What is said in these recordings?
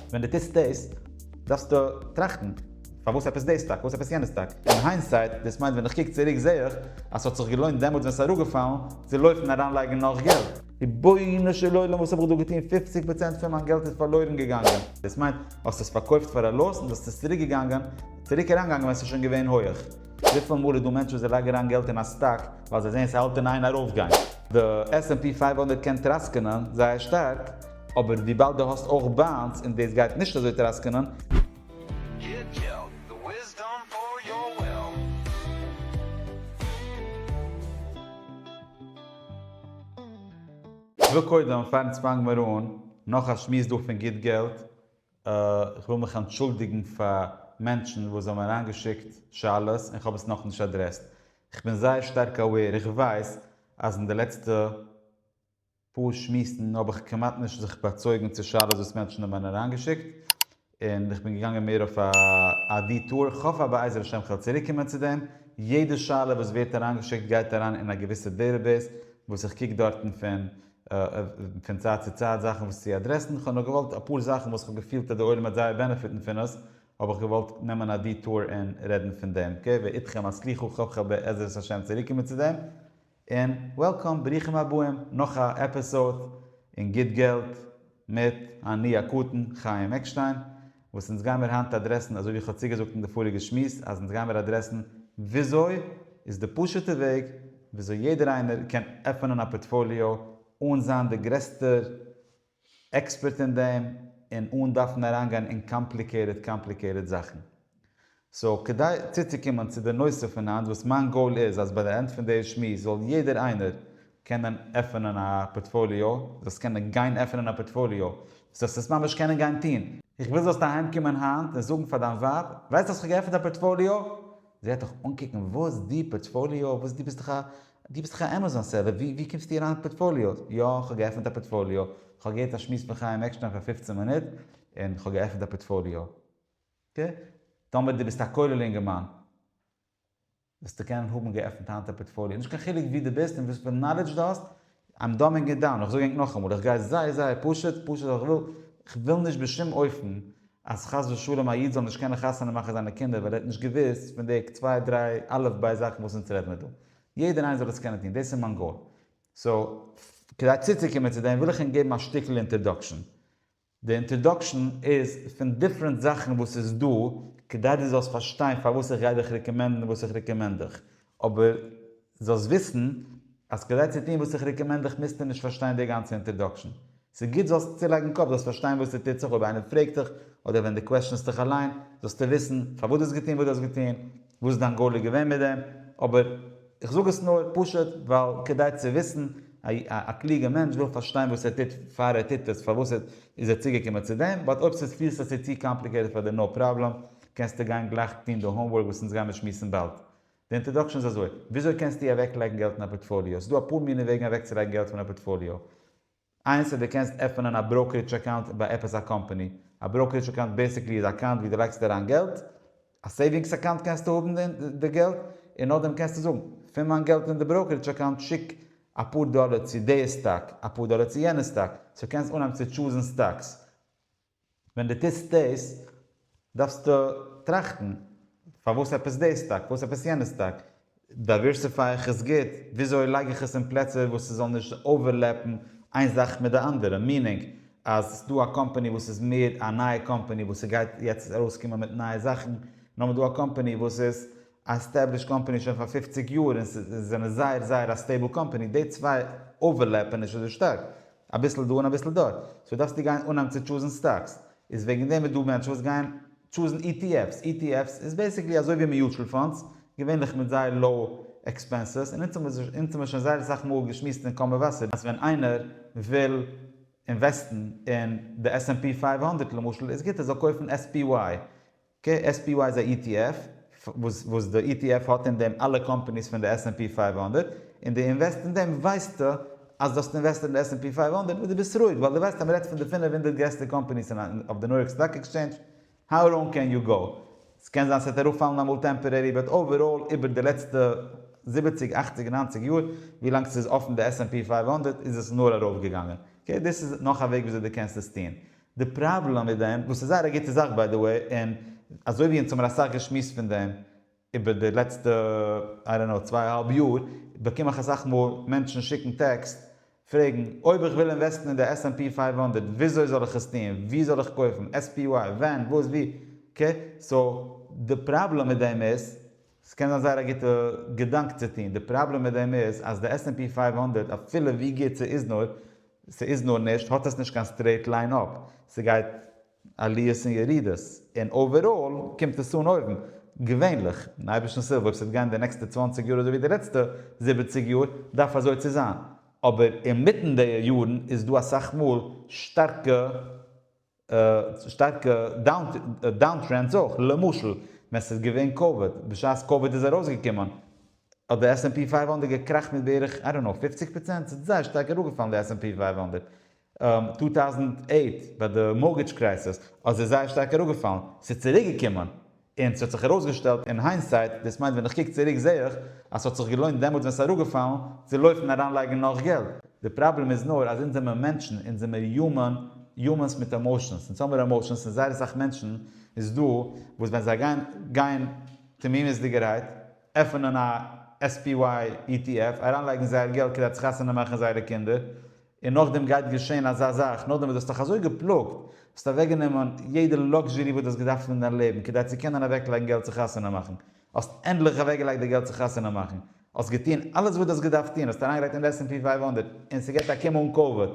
ווען דו טוסט דאס, דארפסטו טראכטן, פארוואס עפעס דאס טאג? פארוואס עפעס יענעס טאג? אין היינסייט, דאס מיינט ווען איך קוק צוריק זעה איך אז ס'האט זיך געלוינט דעמאלטס ווען ס'איז אראפגעפאלן, צו לויפן אריינלייגן נאך געלט. רבונו של עולם וואס האב איך דא געטון? פופציג פראצענט פון מיין געלט איז פארלוירן געגאנגען. דאס מיינט, האסט עס פארקויפט פאר א לאס און דאס איז צוריק געגאנגען, צוריק אריינגעגאנגען ווען ס'איז שוין געווען הויעך. וויפיל מאל איז דא מענטשן וואס זיי לייגן אריין געלט אין א סטאק ווייל זיי זעען ס'האלט אין איין ארויפגיין. די עס ענד פי פֿינף הונדערט קען טראסקענען זייער שטארק, אבער וויבאלד דו האסט אויך באנדס און דאס גייט נישט אזוי טראסקענען, כ'וויל קודם, פארן ס'פאנג מיר אן, נאך א שמועס דא פון גוט געלט, אה, כ'וויל מיך אנטשולדיגן פאר מענטשן וואס זיי האבן אריינגעשיקט שאלות און כ'האב עס נאכנישט אדרעסט. כ'בין זייער שטארק אווער, איך ווייס אז אין די לעצטע. פאר שמועסן האב איך כמעט נישט זיך באצויגן צו שאלות וואס מענטשן האבן אריין אריינגעשיקט, און איך בין געגאנגען מער אויף א דיטאר, איך האף אז בעזר השם כ'וועל צוריק קומען צו דעם, יעדע שאלה וואס ווערט אריינגעשיקט גייט אריין אין א געוויסע דעטעבעיס וואס איך קוק דארטן פון פון צייט צו צייט זאכן וואס צו אדרעסן, כ'האב נאר געוואלט אפאר זאכן וואס כ'האב געפילט אז די עולם וועט זייער בענעפיטן פון עס האב איך געוואלט נעמען א דיטאר און רעדן פון דעם, אקעי, ואיתכם הסליחה, כ'האף כ'וועל בעזרת השם צוריקומען צו דעם. און וועלקאם, ברוכים הבאים, נאך א עפיסאוד אין גוט געלט מיט אני הקטן חיים עקשטיין, וואס אונז גיימיר היינט אדרעסן אזוי ווי איך האב צוגעזאגט אין די פאריגע שמועס אז אונז גיימיר אדרעסן וויאזוי איז די פשוטע וועג וויאזוי יעדער איינער קען עפענען א פארטפאליאו אן זיין די גרעסטער עקספערט אין דעם און אן דארפן אריינגיין אין קאמפליקעיטעד קאמפליקעיטעד זאכן. סאו כדי צוצוקומען צו די נושא פון היינט וואס מיין גאול איז אז ביי די ענד פון די שמועס זאל יעדער איינער קענען עפענען א פארטפאליאו, דו זאלסט קענען גיין עפענען א פארטפאליאו, דו זאלסט עס ממש קענען גיין טון. איך וויל זאלסט אהיים קומען היינט און זאגן פאר דיין ווייב, ווייסט אז כ'האב געעפענט א פארטפאליאו? זי וועט דיך אנקוקן, וואס? דו? פארטפאליאו? וואס דו ביסט דאך א דו ביסט דאך א עמעזאן סעלער, ווי קומסטו אריין מיט פארטפאליאוס? יא, כ'האב געעפנט א פארטפאליאו, כ'האב געהערט א שמועס פון חיים עקשטיין פאר פֿופֿצן מינוט, און כ'האב געעפנט א פארטפאליאו. אקעי, טאמער דו ביסט א כולל אינגערמאן, וועסטו קענען האבן געעפנט היינט א פארטפאליאו, נישט קיין חילוק וואו דו ביסט און וואספארא נאלעדזש דו האסט, איים דאמינג איט דאון, איך זאג ענק נאכאמאל, איך גיי זייער זייער פשוט, פשוט ווייל איך וויל, איך וויל נישט בשום אופן אז חס ושלום א איד זאל נישט קענען חתונה מאכן זיינע קינדער ווייל ער האט נישט געוואוסט פון די צוויי דריי אלף בית זאכן וואס אונז רעד מיר דא. יעדער איינער זאל עס קענען טון, דאס איז מיין גאול. סאו, כדי צוצוקומען צו דעם וויל איך ענק געבן א שטיקל אינטערדאקשען. די אינטראדאקשן איז פון דיפרענט זאכן וואס איז דא כדי דו זאלסט פארשטיין פארוואס איך גיי דיך רעקאמענדן וואס איך רעקאמענד דיך, אבער זאלסט וויסן אז כדי צו טון וואס איך רעקאמענד דיך מוזטו נישט פארשטיין די גאנצע אינטראדאקשן. ס'איז גוט זאלסט צולייגן קאפ, זאלסט פארשטיין וואס ס'טוט זיך אויב איינער פרעגט דיך, אדער ווען דו קוועשענסט דיך אליין, זאלסטו וויסן פארוואס דו האסט געטון וואס דו האסט געטון, וואס איז דיין גאול געווען מיט דעם, אבער. איך זאג עס נאר פשוט ווייל כדי צו וויסן, א קלוגע מענטש וויל פארשטיין וואס ער טוט פאר ער טוט עס, פארוואס איז ער צוגעקומען צו דעם, באט אויב ס'איז פילסטו ס'איז צו קאמפליקעיטעד פאר דיר נאו פראבלעם, קענסטו גיין גלייך טון די האומווארק וואס אונז גיימיר שמועסן באלד. די אינטראדאקשן איז אזוי, וויאזוי קענסטו אוועקלייגן געלט אין א פארטפאליאו? ס'איז דא אפאר מיני וועגן אוועקצולייגן געלט פון א פארטפאליאו. איינס איז דו קענסט עפענען א בראוקערידזש אקאונט ביי עפעס א קאמפאני, א בראוקערידזש אקאונט בעסיקלי איז א אקאונט ווי דו לייגסט אריין געלט, א סעיווינגס אקאונט קענסטו האבן די געלט און נאכדעם קענסטו זאגן, פון מיין געלט אין די בראוקערידזש אקאונט שיק אפאר דאלער צו די סטאק, אפאר דאלער צו יענע סטאק, סאו קענסט אנהייבן צו טשוזן סטאקס, ווען דו טוסט דאס, דארפסטו טראכטן, פארוואס עפעס דאס טאג? פארוואס עפעס יענעס טאג? דייווערסיפיי איך עס גוט? וויאזוי לייג איך עס אין פלעצער וואס ס'זאל נישט אווערלעפן איין זאך מיט די אנדערע? מיענינג, אז ס'דא א קאמפאני וואס איז מער א נייע קאמפאני וואס ס'גייט יעצט ארויסקומען מיט נייע זאכן, און האבן דא א קאמפאני וואס איז א עסטעבלישט קאמפאני שוין פאר פופציג יאר און זענען זייער זייער א סטעיבל קאמפאני, די צוויי אווערלעפן נישט אזוי שטארק. אביסל דא און אביסל דארט, סאו דארפסט דיר גיין אנהייבן צו טשוזן סטאקס, איז וועגן דעם איז דא מענטשן וואס גייען טשוזן ETFs, ETFs איז בעסיקלי אזוי ווי מיוטשעל פאנדס, געווענליך מיט זייער לאו עקספענסעס, און אונז האמיר שוין זייער אסאך מאל געשמועסט אין קאמע וואסער אז ווען איינער וויל אינוועסטן אין די עס ענד פי פֿינף הונדערט למשל איז גוט ער זאל קויפן SPY, כ ס פ י איז א ETF וואס וואס די ETF האט אין דעם אלע קאמפאניס פון די עס ענד פי פֿינף הונדערט, און די אינוועסט אין דעם ווייסטו אז די האסט אינוועסטעד אין די עס ענד פי פֿינף הונדערט וואס די ביסט רואיג ווייל די ווייסט אז מ'רעדט פון די פֿינף הונדערט גרעסטע קאמפאניס אין אויף די ניו יארק סטאק עקסטשעינדזש, האו ראנג קען יו גאו? ס'קען זיין ס'וועט אראפפאלן אמאל טעמפארערי באט אוועראל איבער די לעצטע זיבעציק אכציג ניינציג יאר ווי לאנג ס'איז אפן די עס ענד פי פֿינף הונדערט איז עס נאר ארויפגעגאנגען, אקעי דאס איז נאך א וועג וויאזוי די קענסט עס טון. די פראבלעם מיט דעם, וואס איז זייער א גוטע זאך ביי די וועי, און אזוי ווי אונז האמיר אסאך געשמועסט פון דעם איבער די לעצטע איי דאנט נאו צוויי אהאלב יאר, באקום איך אסאך מאל מענטשן שיקן טעקסט פרעגן, אויב איך וויל אינוועסטן אין די עס ענד פי פֿינף הונדערט וויאזוי זאל איך עס טון, וואו זאל איך קויפן, עס פי וואי, ווען, וואס, ווי, אקעי, סאו די פראבלעם מיט דעם איז, ס'קען זיין זייער א גוטע געדאנק צו טון, די פראבלעם מיט דעם איז אז די עס ענד פי פֿינף הונדערט אפילו ווי גוט ס'איז נאר, ס'איז נאר נישט, האט עס נישט קיין סטרעיט ליין אפ, ס'גייט עליות און ירידות, און אוועראל קומט עס אן אויבן, געווענליך, אין אייבערשטנ'ס הילף אויב ס'וועט גיין די נעקסטע צוואַנציק יאר אזוי ווי די לעצטע זיבעציק יאר דארף אזוי צו זיין, אבער אינמיטן די יארן איז דא אסאך מאל שטארקע. שטארקע דאון טרענדס אויך, למשל ווען ס'איז געווען קאוויד, בשעת קאוויד איז ארויסגעקומען האט די עס ענד פי פֿינף הונדערט געקראכט מיט בערך איי דאנט נאו פֿופֿציק פראצענט, ס'האט זייער שטארק אראפגעפאלן די עס ענד פי פֿינף הונדערט, צוויי טויזנט אַכט ביי די מארטגעדזש קרייסיס האט זי זייער שטארק אראפגעפאלן, ס'איז צוריקגעקומען, און ס'האט זיך ארויסגעשטעלט אין היינסייט, דאס מיינט ווען איך קוק צוריק זעה איך אז ס'האט זיך געלוינט דעמאלטס ווען ס'איז אראפגעפאלן, צו לויפן אריינלייגן נאך געלט. די פראבלעם איז נאר אז אונז זעמיר מענטשן, אונז זעמיר יומען, יומענס מיט עמאושענס, אונז האמיר עמאושענס און זייער אסאך מענטשן איז דא וואס ווען זיי גייען גיין תמימות'דיגערהייט עפענען א SPY ETF, אריינלייגן זייער געלט כדי צו חתונה מאכן זייערע קינדער, און נאכדעם גייט געשען אזא זאך, נאכדעם וואס דו האסט דיך אזוי געפלאגט, האסט אוועקגענומען יעדע לאקזשערי וואס דו האסט געדארפט אין דיין לעבן כדי צו קענען אוועקלייגן געלט צו חתונה מאכן, האסט ענדליך אוועקגעלייגט די געלט צו חתונה מאכן, האסט געטון אלעס וואס דו האסט געדארפט טון, האסט אריינגעלייגט אין די עס ענד פי פֿינף הונדערט און ס'געט א קום אן קאוויד,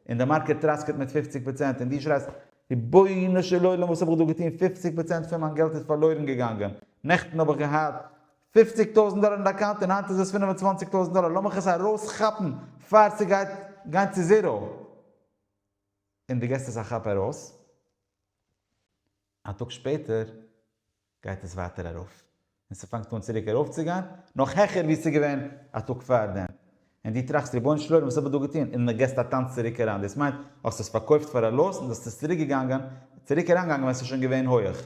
און די מארקעט טראסקעט מיט פופציג פראצענט, און דו שרייסט, רבונו של עולם וואס האב איך דא געטון, פופציג פראצענט פון מיין געלט איז פארלוירן געגאנגען, נעכטן האב איך געהאט. פופציג טויזענט דאלער אין די אקאונט און היינט איז עס פינף און צוואנציג טויזענט דאלער לאמיך עס ארויס כאפן פאר ס'גייט גיין צו זירא און די געסט עס א כאפ ארויס א טאג שפעטער גייט עס ווייטער ארויף און ס'פאנגט אן צוריק ארויפצוגיין נאך העכער ווי ס'איז געווען א טאג פארדעם און דו טראכסט רבונו של עולם וואס האב איך דא געטון? און דו געסט א טאנץ צוריק אריין, דאס מיינט האסט עס פארקויפט פאר א לאס און דו האסט עס צוריק געגאנגען, צוריק אריינגעגאנגען ווען עס איז שוין געווען הויעך.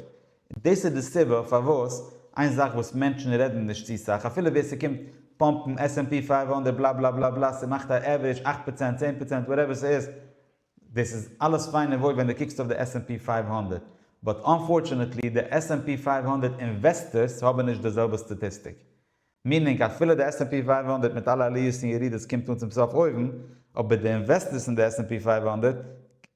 דאס איז די סיבה פארוואס איין זאך וואס מענטשן רעדן נישט צו סאך, אפילו ווער ס'קומט פאמפן עס ענד פי פֿינף הונדערט בלא בלא בלא בלא ס'מאכט א עווערידזש אַכט פראצענט, צען פראצענט, וואטעווער ס'איז, דאס איז אלעס פיין און וואויל ווען דו קוקסט אויף די עס ענד פי פֿינף הונדערט, באט אנפארטשענעטלי די עס ענד פי פֿינף הונדערט אינוועסטערס האבן נישט די זעלבע סטאטיסטיק. מיענינג אפילו די עס ענד פי פֿינף הונדערט מיט אלע עליות און ירידות קומט אן צום סוף אויבן, אבער די אינוועסטערס אין די עס ענד פי פֿינף הונדערט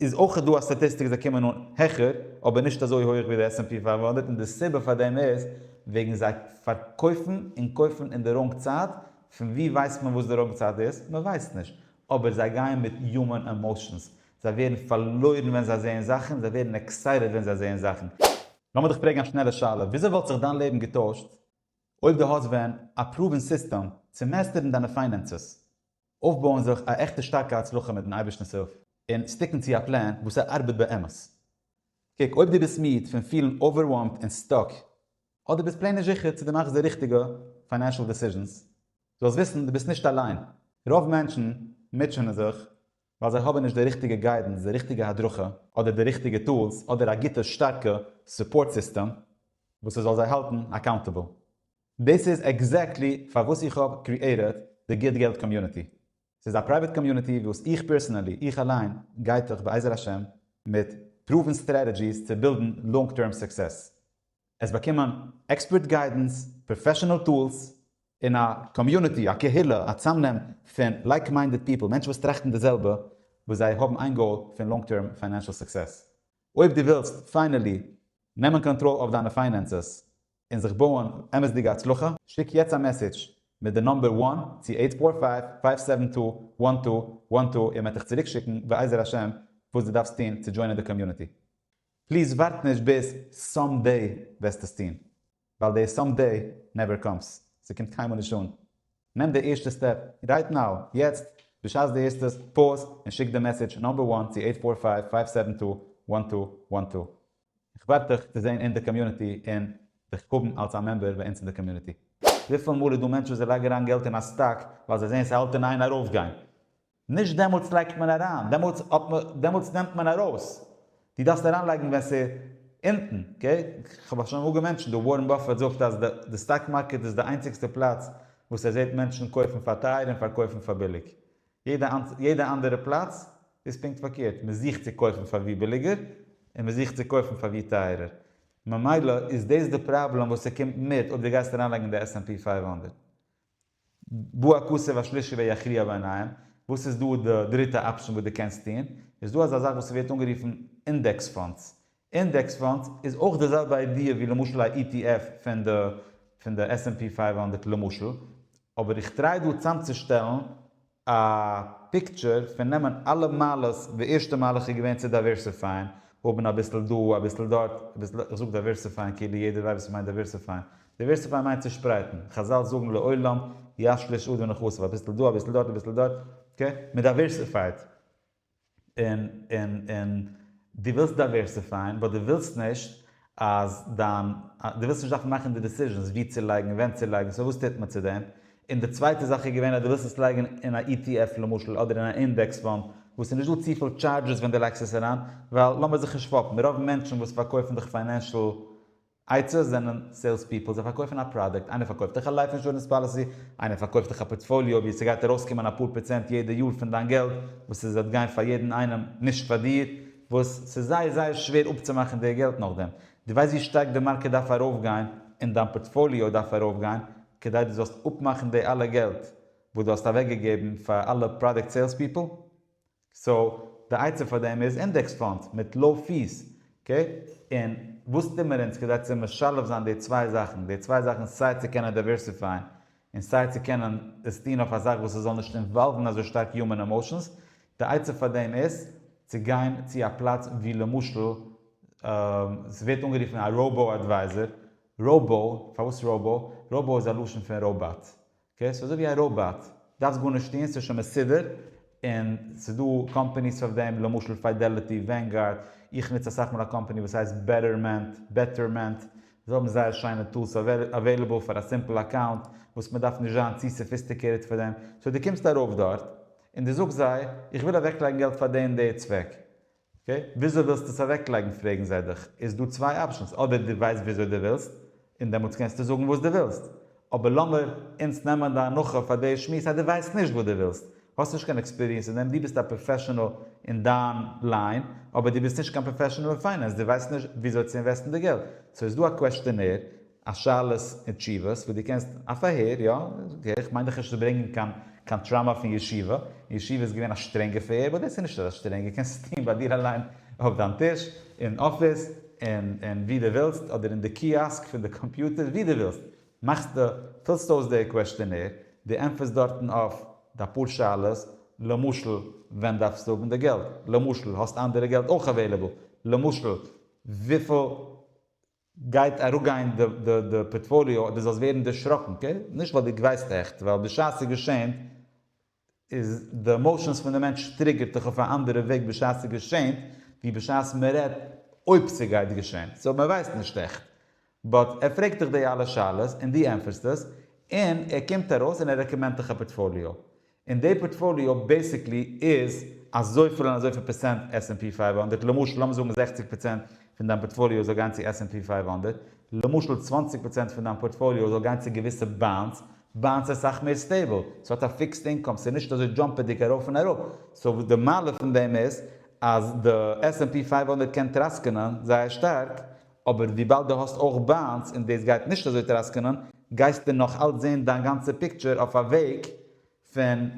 איז אויך דא א סטאטיסטיק זיי קומען אן העכער אבער נישט אזוי הויעך ווי די עס ענד פי פֿינף הונדערט און די סיבה פאר דעם איז וועגן זיי פארקויפן און קויפן אין די ראנג צייט, פון ווי ווייסט מען וואס די ראנג צייט איז? מען ווייסט נישט, אבער זיי גייען מיט יומען עמאושענס, זיי ווערן פארלוירן ווען זיי זעען זאכן און זיי ווערן עקסייטעד ווען זיי זעען זאכן. לאמיר דיך פרעגן א שנעלע שאלה, וויאזוי וואלט זיך דיין לעבן געטוישט? אויב דו האסט ווען א פרואווען סיסטעם צו מעסטערן דיינע פיינענסעס, אויפבויען זיך א עכטע שטארקע הצלחה מיטן אייבערשטנ'ס הילף, און סטיקן צו א פלען וואס ער ארבעט באמת. קוק אויב דו ביסט מיד פון פילן אווערווארמד און סטאק, אדער ביסט פלעין נישט זיכער צו דו מאכסט די ריכטיגע פיינענשל דעסיזשענס, זאלסט וויסן דו ביסט נישט אליין, רוב מענטשן מוטשענען זיך ווייל זיי האבן נישט די ריכטיגע גיידענס, די ריכטיגע הדרכה, אדער די ריכטיגע טולס, אדער א גוטע שטארקע סופארט סיסטעם וואס ס'זאל זיי האלטן אקאונטעבל. דאס איז עקזעקטלי פארוואס איך האב קריעיטעד די גוט געלט קאמיוניטי. ס'איז א פרייוועט קאמיוניטי וואס איך פערסענעלי, איך אליין, גייט דורך בעזר השם מיט פרואוון סטרעטעדזשיס צו בילדן לאנג טערם סוקסעס. עס באקומען עקספערט גיידענס, פראפעשענעל טולס, און א קאמיוניטי, א קהילה, א צאמנעם פון לייק מיינדעד פיפל, מענטשן וואס טראכטן די זעלבע, וואס זיי האבן איין גאול פון לאנג טערם פיינענשעל סוקסעס. אויב דו ווילסט פיינעלי נעמען קאנטראל אויף דיינע פיינענסעס און זיך בויען אמת'דיגע הצלחה, שיק יעצט א מעסעדזש מיט די נומבער וואן צו אייט פאר פייוו פייוו סעווען טו וואן טו וואן טו און מען וועט דיך צוריקשיקן בעזר השם וואס דו דארפסט טון צו דזשוינען די קאמיוניטי. פליז ווארט נישט ביז סאם דעי וועסט עס טון, ווייל די סאם דעי נעווער קאמס, ס'קומט קיינמאל נישט אן, נעם די ערשטע סטעפ רייט נאו, יעצט, בשעת די הערסט עס, פאוז און שיק די מעסעדזש נאמבער וואן צו עיט פאר פייוו פייוו סעווען טו וואן טו וואן טו. איך ווארט דיך צו זען אין די קאמיוניטי און דיך האבן אלס א מעמבער ביי אונז אין די קאמיוניטי. וויפיל מאל איז דא מענטשן וואס זיי לייגן אריין געלט אין א סטאק ווייל זיי זעהן ס'האלט אין איין ארויפגיין, נישט דעמאלטס לייגט מען אריין, דעמאלטס האט מען, דעמאלטס נעמט מען ארויס, דו דארפסט אריינלייגן ווען ס'איז אונטן, אקעי? כ'האב א שוין אמאל געמענטשענט דא, ווארען באפעט זאגט אז די די סטאק מארקעט איז די איינציגסטע פלאץ וואס ער זעט מענטשן קויפן פאר טייער און פארקויפן פאר ביליג, יעדע יעדע אנדערע פלאץ איז פונקט פארקערט, מען זוכט צו קויפן פאר ווי ביליגער, און מען זוכט צו קויפן פאר ווי טייערער, ממילא איז דאס די פראבלעם וואס ס'קומט מיט אויב דו גייסט אריינלייגן די עס ענד פי פֿינף הונדערט, בא הכסף השלישי ויכריע בעניהם, וואס איז דא די דריטע אפשען וואס דו קענסט טון, איז דא אזא זאך וואס ס'ווערט אנגערופן אינדעקס פאנדס. אינדעקס פאנדס איז אויך די זעלבע איידיע ווי למשל א ETF פון די פון די עס ענד פי פֿינף הונדערט למשל, אבער איך טריי דא צאמצושטעלן א פיקטשער פון נעמען אלע מעלות, די ערשטע מהלך איז געווען צו דייווערסיפייען, האבן אביסל דא אביסל דארט, אביסל איך זאג דייווערסיפייען כאילו יעדער ווייסט וואס מ'מיינט דייווערסיפייען, דייווערסיפייען מיינט צושפרייטן, חזל זאגן לעולם ישליש עד ונכסף, אביסל דא אביסל דארט אביסל דארט, אקעי, מ'דייווערסיפייט, און און און דו ווילסט דייווערסיפייען באט דו ווילסט נישט אז דיין דו ווילסט נישט דארפן מאכן די דעסיזשענס ווי צו לייגן און ווען צו לייגן סאו וואס טוט מען צו דעם? און די צווייטע זאך איז געווען אז דו ווילסט עס לייגן אין א ETF למשל אדער אין א אינדעקס פאנד וואס איז נישט דא צופיל טשארדזשעס ווען דו לייגסט עס אריין ווייל לאמיר זיך נישט פאפן רוב מענטשן וואס פארקויפן דיך פיינענשל עצות זענען סעילס פיפל, זיי פארקויפן א פראדוקט, איינער פארקויפט דיך א לייף אינשורענס פאליסי, איינער פארקויפט דיך א פארטפאליאו ווי ס'גייט ארויסקומען אפאר פראצענט יעדע יאר פון דיין געלט וואס איז וועט גיין פאר יעדן איינעם נישט פאר דיר, וואס ס'איז זייער זייער שווער אפצומאכן די געלט נאכדעם. דו ווייסט ווי שטארק די מארקעט דארף ארויפגיין און דיין פארטפאליאו דארף ארויפגיין כדי דו זאלסט אפמאכן די אלע געלט וואס דו האסט אוועקגעגעבן פאר אלע פראדוקט סעילס פיפל? סאו די עצה פאר דעם איז אינדעקס פאנדס מיט לאו פיס, אקעי? און וואס טוט מען אונז כדי צו משלב זיין די צוויי זאכן, די צוויי זאכן סיי צו קענען דייווערסיפייען און סיי צו קענען עס טון אויף א זאך וואס עס זאל נישט אינוואלוון אזוי שטארק יומען עמאושענס, די עצה פאר דעם איז צו גיין צו א פלאץ ווי למשל עס ווערט אנגערופן א ראובאו אדווייזער, ראובאו, פארוואס ראובאו? ראובאו איז א לשון פון ראובאט, אקעי ס'איז אזויווי א ראבאט, דארפסט גארנישט טון, ס'איז שוין מסודר, און ס'איז דא קאמפעניס פאר דעם, למשל פידעליטי, ווענגארד, איך נוץ אסאך מאל א קאמפעני וואס הייסט בעטערמענט, Betterment, זיי האבן זייער שיינע טולס אוועילעבל פאר א סימפל אקאונט, וואס מען דארף נישט זיין צו סאפיסטיקעיטעד פאר דעם, סאו דו קומסט ארויף דארט, און דו זאגסט זיי, איך וויל אוועקלייגן געלט פאר די און די צוועק, אקעי, וויאזוי ווילסטו עס אוועקלייגן פרעגן זיי דיך, איז דא צוויי אפשענס, אדער דו ווייסט וויאזוי דו ווילסט, און דעמאלטס קענסטו זאגן וואס דו ווילסט, אבער לאמיר אונז נעמען די הנחה פאר די שמועס אז דו ווייסט נישט וואס דו ווילסט, האסט נישט קיין עקספיריענס אין דעם, דו ביסט א פראפעשענעל אין דיין ליין, אבער דו ביסט נישט קיין פראפעשענעל אין פיינענס, דו ווייסט נישט וויאזוי צו אינוועסטן די געלט, סאו איז דא א קוועשטענער, א שאלות און תשובות וואס דו קענסט א פארהער יא אקעי איך מיין דיך נישט צו ברענגען קיין קיין טראמא פון ישיבה און ישיבה איז געווען א שטרענגע פארהער באט דאס איז נישט אזא שטרענגע קענסט עס טוהן ביי דיר אליין אויף דיין טיש אין אפיס און און ווי דו ווילסט אדער אין די קיאסק פון די קאמפיוטער ווי דו ווילסט מאכסט די פילסט אויס די קוועשטענער די ענטפערסט דארטן אויף די פאר שאלות למשל ווען דארפסטו האבן די געלט למשל האסט אנדערע געלט אויך אוועילעבל למשל וויפיל גייט אראפגיין די פארטפאליאו אדער זאלסט ווערן דערשראקן קעי, נישט ווייל די גייסט עכט, ווייל בשעת ס'געשענט איז די עמאושענס פון די מענטש טריגערט דיך אויף א אנדערע וועג בשעת ס'געשענט ווי בשעת מ'רעדט אויב ס'גייט געשען, סאו מ'ווייסט נישט עכט, באט ער פרעגט דיך די אלע שאלות און דו ענטפערסט עס, און ער קומט ארויס און ער רעקאמענדט דיך א פארטפאליאו, און די פארטפאליאו בעסיקלי איז אזויפיל און אזויפיל פערצענט עס ענד פי פייוו הונדערט, למשל לאמיר זאגן זעכציג פערצענט פון דיין פארטפאליאו זאל גיין צו עס ענד פי פייוו הונדערט, למשל צוואנציג פערצענט פון דיין פארטפאליאו זאל גיין צו געוויסע באנדס, באנדס איז סאך מער סטעיבל, ס'האט א פיקסד אינקאם, ס'איז נישט אזוי דזשאמפעדיג ארויף און אראפ, סאו די מעלה פון דעם איז אז די עס ענד פי פייוו הונדערט קען טראסקענען זייער שטארק אבער וויבאלד דו האסט אויך ביינס און דאס גייט נישט אזוי טראסקענען, גייסטו נאך אלץ זען דיין גאנצע פיקטשער אויף א וועג פון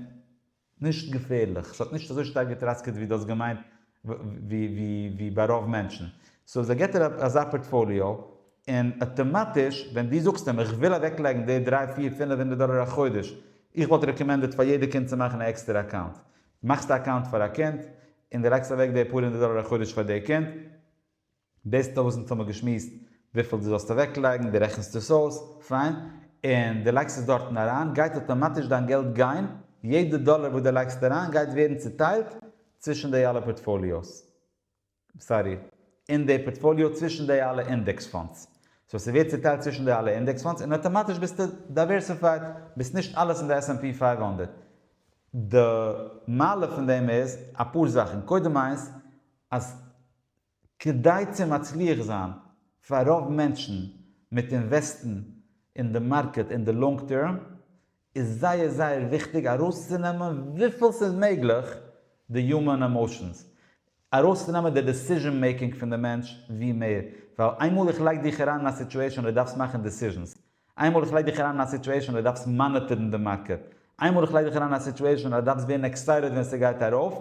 נישט געפערליך, ס'האט נישט אזוי שטארק געטראסקעט ווי דו האסט געמיינט ווי ביי רוב מענטשן. סאו זיי געט אראפ אזא פארטפאליאו, און אטאמאטיש ווען דו זאגסט אים איך וויל אוועקלייגן די דריי פיר פינף הונדערט דאלער א חודש, איך וואלט רעקאמענדעט פאר יעדע קינד צו מאכן א עקסטערע אקאונט, מאכסט א אקאונט פאר א קינד, און דו לייגסט אוועק די פאר הונדערט דאלער א חודש פאר די קינד, דאס איז דאך וואס אונז האבן געשמועסט וויפיל דו זאלסט אוועקלייגן, דו רעכנסט עס אויס, פיין, און דו לייגסט עס דארטן אריין, גייט אטאמאטיש דיין געלט גיין, יעדע דאלער וואס דו לייגסט אריין גייט ווערן צוטיילט צווישן די אלע פארטפאליאוס, סארי, אין די פארטפאליאו צווישן די אלע אינדעקס פאנדס, סאו ס'ווערט צוטיילט צווישן די אלע אינדעקס פאנדס און אטאמאטיש ביסטו דייווערסיפייד, ביסט נישט אלעס אין די עס ענד פי פֿינף הונדערט. די מעלה פון דעם איז אפאר זאכן, קודם איינס אז כדי צו מצליח זיין, פאר רוב מענטשן מיט אינוועסטן אין די מארקעט אין די לאנג טערם, איז זייער זייער וויכטיג ארויסצונעמען וויפיל ס'איז מעגליך די יומען עמאושענס, ארויסצונעמען די דעסיזשען מעיקינג פון די מענטש ווי מער, ווייל איינמאל איך לייג דיך אריין אין א סיטועשאן און דו דארפסט מאכן דעסיזשענס, איינמאל איך לייג דיך אריין אין א סיטועשאן אז דו דארפסט מאניטערן די מארקעט, איינמאל איך לייג דיך אריין אין א סיטועשאן אז דו דארפסט ווערן עקסייטעד ווען ס'גייט ארויף,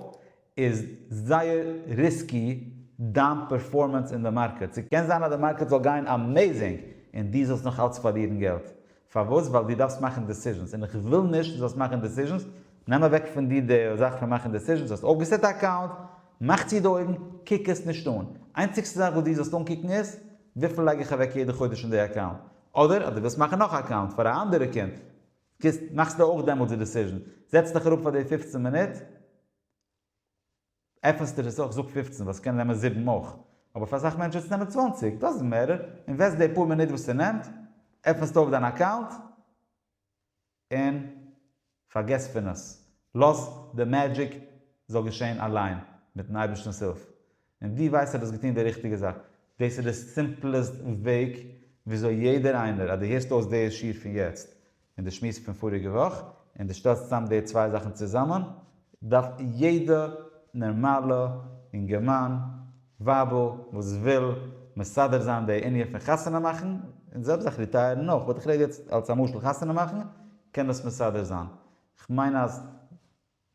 איז זייער ריסקי דיין פערפארמענס אין די מארקעט. ס'קען זיין אז די מארקעט זאל גיין אמעיזינג און דו זאלסט נאך אלץ פארלירן געלט. פארוואס? ווייל דו דארפסט מאכן דעסיזשענס און איך וויל נישט דו זאלסט מאכן דעסיזשענס. נעם אוועק פון דיר די זאך פון מאכן דעסיזשענס. האסט אויפגעסעט א אקאונט, מאך צו די אויגן, קוק עס נישט אן. איינציגסטע זאך וואס דו זאלסט אנקוקן איז וויפיל לייג איך אוועק יעדע חודש אין די אקאונט? אדער אז דו ווילסט מאכן נאך א אקאונט פאר א אנדערע קינד קוסט מאכסטו אויך דעמאלטס די דיסיזשען, זעצט דיך אראפ פאר די פֿופֿצן מינוט עפענסטו עס אויך, זאג פֿופֿצן ווייל עס קען נעמען זיבן אויך, אבער פאר אסאך מענטשן וועט עס נעמען צוואַנציק, דאזענט מעטער, אינוועסט די פאר מינוט וואס ס'נעמט, עפענסטו אויף דיין אקאונט, און פארגעס פון עס, לאז די מעדזשיק זאל געשען אליין מיטן אייבערשטנ'ס הילף, און דו ווייסט אז דו האסט געטון די ריכטיגע זאך, דאס איז די סימפלעסט וועג וויאזוי יעדער איינער, אז דו הערסט אויס די שיעור פון יעצט און די שמועס פון פאריגע וואך, און דו שטעלסט צוזאם די צוויי זאכן צוזאמען, דארף יעדע נערמאלע אינגערמאן ווייבל וואס וויל מסדר זיין די ענין פון חתונה מאכן, און זעלבסט זיך ריטייערן אויך, באט איך רעד יעצט אלס א משל, חתונה מאכן, קען דאס מסדר זיין. כ'מיין אז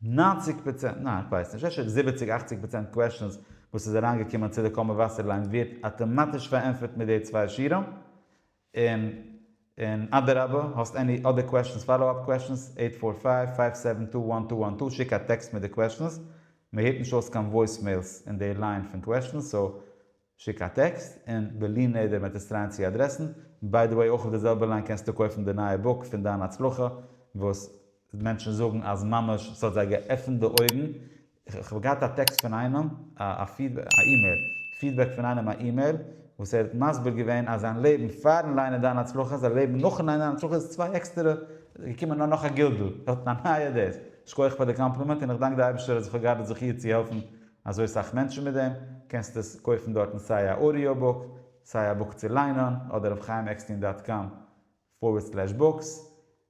נײַנציק פראצענט, ניין כ'ווייס נישט, אפשר זיבעציק אכציג פראצענט קוועשאנס וואס איז אריינגעקומען צו די קאמא וואסערליין ווערט אטאמאטיש פארענטפערט מיט די צוויי שירעם, און און אדרבה האסט עני אדער קוועשאנס פאלאו אפ קוועשאנס אייט פאר פייוו פייוו סעווען טו וואן טו וואן טו שיק א טעקסט מיט די קוועשאנס מען הערט נישט אויס קיין וואויס מעילס אין די ליין פון קוועשאנס סאו שיק א טעקסט און בלי נדר מעט עס טרייען צו אדרעסן ביי די וועי אויך אויף די זעלבע ליין קענסטו קויפן די נייע בוק פון דיין הצלחה וואס מענטשן זאגן אז ממש ס'האט זיי געעפנט די אויגן, כ'האב געהאט א טעקסט פון איינעם, א אימעיל, פידבעק פון איינעם א אימעיל, וואס ער האט מסביר געווען אז זיין לעבן פארן ליינען דיין הצלחה, זיין לעבן נאכן ליינען דיין הצלחה איז צוויי עקסטערע, געקומען א נאך א גלגול, ער האט א נייע דעס, שכוח פאר די קאמפלימענט און איך דאנק די אייבערשטער אז איך האב געהאט די זכי' צו העלפן אזוי סאך מענטשן מיט דעם, קענסט עס קויפן דארטן סיי א אודיאו בוק, סיי א בוק צו ליינען, אדער אויף חיים עקסטין דאט קאם פארווערד סלעש בוקס.